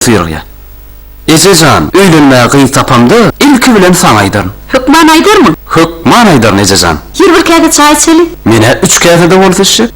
Buýrýar. Eje jan, öýlenmäge gyz tapamda, ilki bilen saňa aýdaryn. Hökman aýdarmyň? Hökman aýdaryn, eje jan. Ýeri bir käse çaý içeli. Men-ä üç käse-de bolsa içjek.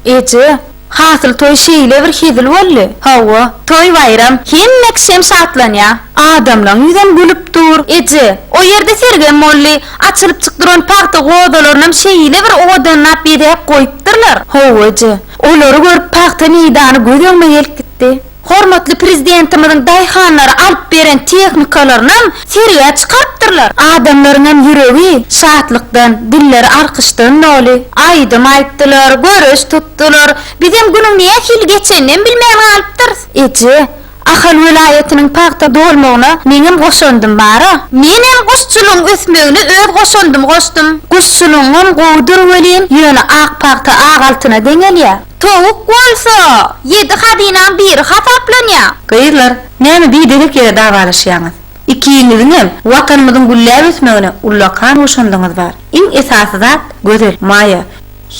Eje, hasyl toý şeýle bir hezil boldy. Hawa, toý-baýram, hemme kişem şatlanýar. Adamlaň ýüzem gülüp dur. Eje, o ýerde sergem boldy. Açylyp çyk duran pagta godalarynam şeýle bir owadanlap bezäp goýupdyrlar. Hawa, eje. Olary görüp pagta meýdany göz öňüme gelip gitdi. Hormatly Prezidentimiziň daýhanlara alyp beren tehnikalaryny hem sergä çykarypdyrlar. Adamlaryň hem ýüregi şatlykdan, dilleri alkyşdan doly. Aýdym aýtdylar, göreş tutdular. Bizem günüň nähili geçenini hem bilmän galypdyrys. Eje, Ahal welaýatynyň pagta dolmagyna meňem goşandym bar-a. Men hem guşçulygyň ösmegine öz goşandymy goşdum. Guşçulygyňam gowudyr welin, ýöne ak pagta ak altyna deňelýär. Towuk bolsa, ýedi hazynaň biri hasaplanýar. Gyzlar, näme biderek ýere dawalaşýaňyz? Ikiňiziňem Watanymyzyň gülläp ösmegine ullakan goşandyňyz bar. Iň esasy zat, Gözel, Maýa,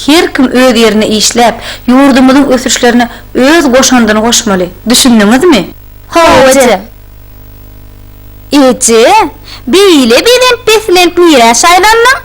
her kim öz ýerinde işläp, ýurdumyzyň ösüşlerine öz goşandyny goşmaly. Düşündiňizmi? Hawa, eje. Eje, beýle belent-beslenk nirä şaýlandyň?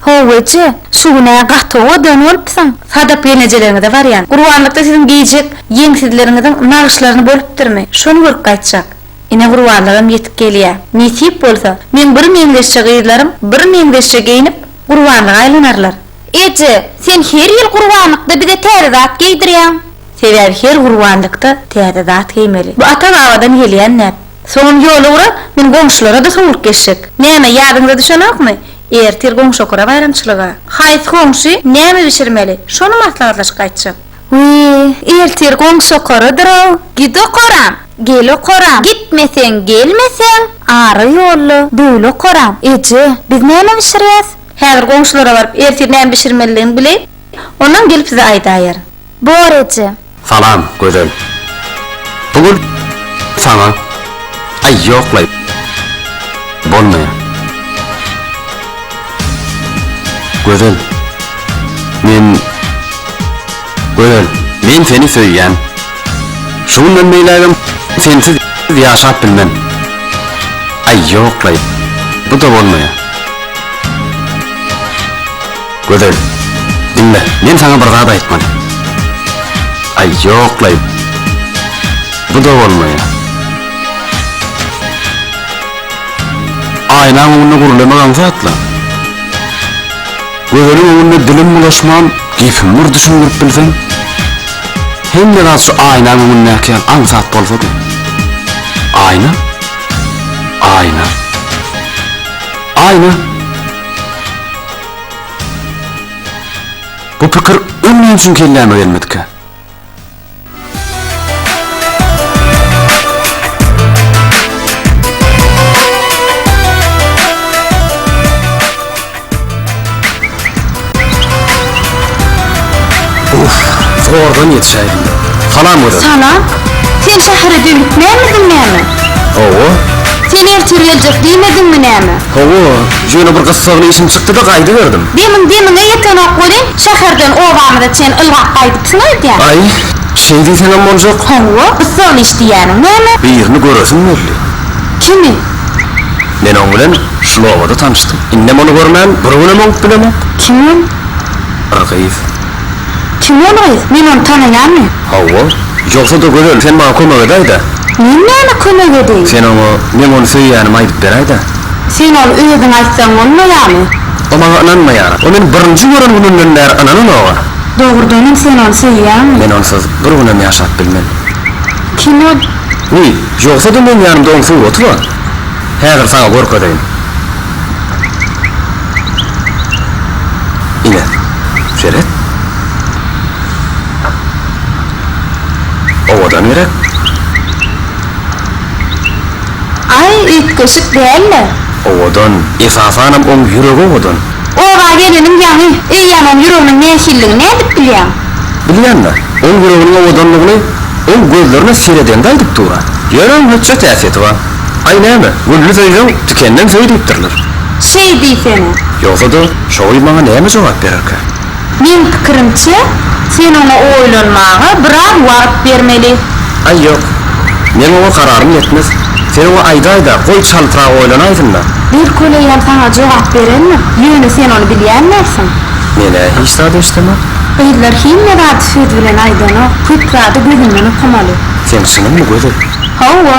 How eje, şu gün-ä gaty owadan bolupsyň. Sadap gelnejeleriňize barýan. Gurbanlykda siziň geýjek ýeňsizleriňiziň nagyşlaryny bolupdyrmy, şony görüp gaýtjak. Ine gurbanlygam ýetip gelýä. Nesip bolsa, meň bir meňzeşje gyzlarym bir meňzeşje geýnip, gurbanlyga aýlanarlar. Eje, sen her ýyl gurbanlykda bize täze zat geýdirýäň. Sebäbi her gurbanlykda täze zat geýmeli. Bu ata-babadan gelýän däp. Soňam ýol ugra, men goňşulara-da sowlup geçjek. Näme, ýadyňyza düşenokmy? Ertir goňşy okara baýramçylyga. Haýsy goňşy näme bişirmeli, şony maslahatlaşyp gaýtjak. Wiý, ertir goňşy okaradyr-ow. Git okaram, gel okaram, gitmeseň, gelmeseň, ara ýolla döwül okaram. Eje, biz näme bişirýäs? Häzir goňşulara baryp, ertir näme bişirmelidigini bileýin, ondan gelip size aýdaýaryn. Bor eje. Salam Gözel. Bu gül saňa aý ýoklaýyp bolmaýar. Gözel. Men Gözel. Men seni söýýän. Şu günden beýlägem sensiz ýaşap bilmen. Aý ýoklaýyp bu-da bolmaýar. Gözel, diňle, men saňa bir zat aýtmaly. Aý, ýok-laý. Bu-da bolmaýar. Aýnaň öňünde gürlemek aňsat-la. Gözeliň öňünde dilim bulaşman, gepimi bir düşündirip bilseň. Hemme zat şu aýnaň öňündäki ýaly aňsat bolsady. Aýna? Aýna. Aýna! Bu pikir öň näme üçin kelläme gelmedikä? Uff, zordan ýetişäýdim. Salam gözel. Salam. Sen şähere dönükmänmidiň näme? Hawa. Sen ertir geljek diýmediňmi näme? Hawa, ýöne bir gyssagly işim çykdy-da gaýdyberdim. Demiň demiňe ýetenok welin, şäherden obamyza çen ylgap gaýdypsyň öýdýän. Aý, şeý diýseňem boljak. Hawa, gyssagly iş diýýäniň näme? Birini göresim geldi. Kimi? Men oň bilen şul obada tanyşdym. Indem ony görmän bir günem oňup bilemok. Kim? Bir gyz. Kim ol gyz? Men ony tanaýanmy? Hawa. Ýogsa-da Gözel, sen maňa kömek edäý-dä. Men näme kömek edeýin? Sen oňa meň ony söýýänimi aýdyp beräý-dä. Sen ony özüň aýtsaň bolmaýarmy? O maňa ynanmaýar. O meni birinji gören gününden bäri ynananok-a. Dogrudan hem sen ony söýýäňmi? Men onsuz bir günem ýaşap bilmen. Kim ol? Wiý, ýogsa-da meň ýanymda oň suraty bar. Häzir saňa görkezeýin. Ine, seret. Owadan gerek. Aý, üýtgeşik dälmi? Owadan. Esasanam oň ýüregi owadan. Oba geleniň ýaňy. Eýýäm oň ýüreginiň nähilligini nädip bilýäň? Bilýän-dä. Oň ýüreginiň owadanlygyny oň gözlerine seredende aýdyp dur-a. Ýöne oň hötjet häsiýeti bar. Aý näme, gülli söýseň, tikenden söý diýipdirler. Şeý diýsene. Ýogsa-da, şoý maňa näme jogap bererkä? Meň pikirimçe, sen oňa oýlanmaga biraz wagt bermeli. Aý ýok. Meň oňa kararym ýetmez. Sen oňa aýdaý-da, goý çaltrak oýlanaýsyn-da. Belkoleýem saňa jogap berendir. Ýöne sen ony bilýändirsiň. Men-ä hiç zat eşidemok. Gyzlar hemme zady söz bilen aýdanok. Köp zady gözüňden okamaly. Seň çynyňmy Gözel? Hawa.